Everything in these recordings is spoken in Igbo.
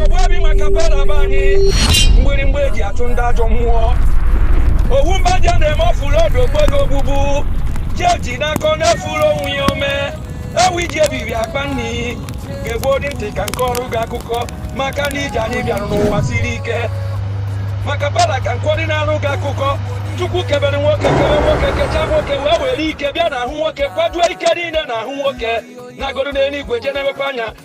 ogbu obi makapala be anyị mgbịrịmgba eji achụ ndị ajọ mmụọ owu mba dị a na-eme ọfụlụ ọdụ okpego ogbugbu jeji n'aka ọ na-efuru onwe ya ome ewu iji ebiri akpa nni geegodi ntị ka nkọrụ gị akụkọ maka na ije anyị bịara n'ụwa siri ike makapala ka nkwọdị na-arụ gị akụkọ chukwu kebere nwoke kebe nwoke kecha nwoke wee were ike bịa n'ahụ nwoke kwajuo ike niile n'ahụ nwoke nagodu n'eluigwe je na-enekwa anya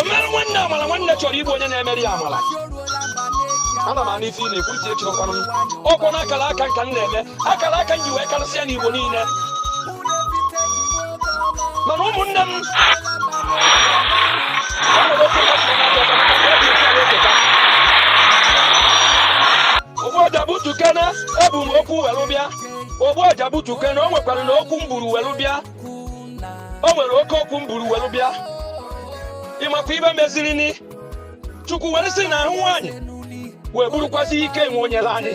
omeere nwanne amala nwanne chọrọ igbu onye na-emere ya amala ana m anụ ife ị na-ekwu ntị echikwanụ m ọkwanụ akara aka nka m na-eme akara aka m ji wee karịsịa n'igbo niile mana ụmụnne m ogbuọja butukene ebu m okwu welu bịa ogbuọja butukene o nwekwaranụ okwu m buru welu bịa o nwere oke okwu m buru welu bịa ị makwa ife meziri nụ chukwu were si na ahụ nwaanyị wee burukwazi ike nwa o nyere anyị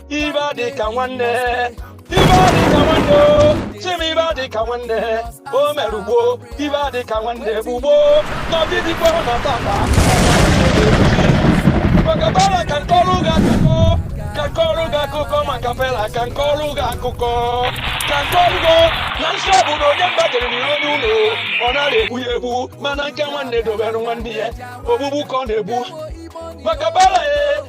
ife adị ka nwanne ife adị ka nwanne o chim ife adị ka nwanne o mere gboo ife adị ka nwanne bụ gboo n'ọdịdịkwa na tata makapala ka nkọrụ gị akụkọ ka nkọrụ gị akụkọ makapala ka nkọrụ gị akụkọ ka nkọrụ gị na nsọ bụ na onye mba jere n'ihe onye ụnọ ọ narọ egbu ya egbu mana nke nwanne dobere nwanne ya ogbugbu ka ọ na-egbu makapala ee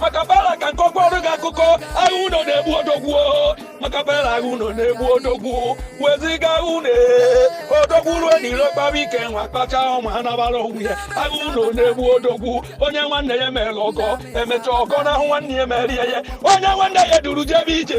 makapala ka nkọkwuorụ gị akụkọ agha ụnọ na-egbu odogwu makapala agha ụnọ na-egbu odogwu wezuga agha ụnọ odogwu ruo n'iro kpaa ike nwa kpacha ụmụ ha nabara onwe ya agha ụnọ na-egbu odogwu onye nwanne ya mere ọgọ emecha ọgọ n'ahụ nwanne ya merie ya onye nwanne ya duru jebe ije